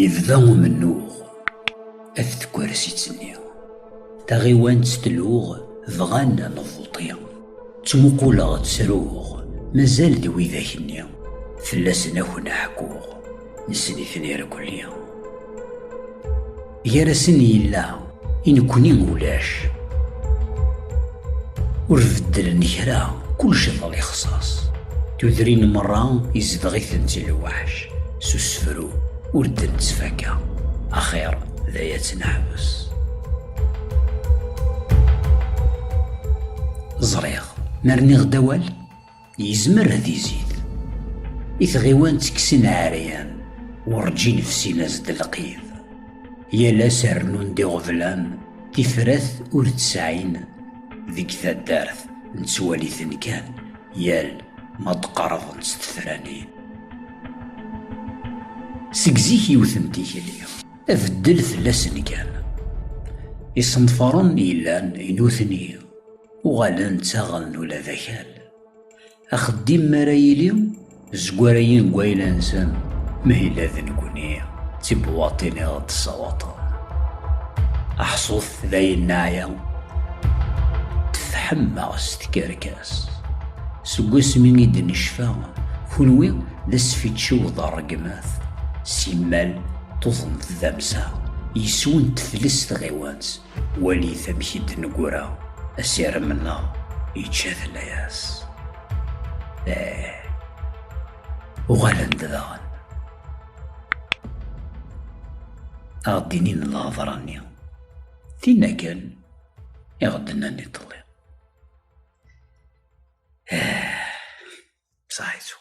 Yebda umennuɣ af tkersitt-nni. Taɣiwant tluɣ, bɣan ad nebbuṭi. Ttmuquleɣ, ttruɣ, mazal-d widak-nni. Fell-asen a ken-ḥkuɣ, nessen-iten irkelli. Gar-asen yella, i nekkni ulac. Ur beddlen kra, kullec d lixṣaṣ. Tudrin merra izdeɣ-itent lweḥc, s usefru ur d-nettfaka. Axir d ay ad neḥbes. Ẓriɣ, ma rniɣ-d awal, Yezmer ad izid. I tɣiwan ttekksen ɛeryan, urǧin fsin-as-d lqid. Yal ass rnun-d iɣeblan, tifrat ur tesɛin. Deg taddart, nettwali-ten kan yal ma d-qerḍen s tefranin. Seg zik yiwet n tikli, abeddel fell-asen kan. Isenfaren yellan i nutni. Uɣalen ttaɣen ula d akal. Axeddim mi ara yili, zegwarayen deg wayla-nsen, ma yella d nekkni, d tibwaḍtin i ɣ-d-ssawaṭen. Aḥṣut dayen neɛya, tefḥemmeɣ s tkerkas. Seg wasmi i d-necfa, kunwi d asfiččiw d rregmat, simmal tuḍneḍ d amsaɣ, yis-wen tefles tɣiwant, Walit amek i d-neggra asirem-nneɣ yečča-t layas. Eh, uɣalen-d daɣen. Ad ɣ-d-inin lehḍra-nni. Tinna kan i ɣ-d-nnan iḍelli. Eh, bsaḥ yettwa.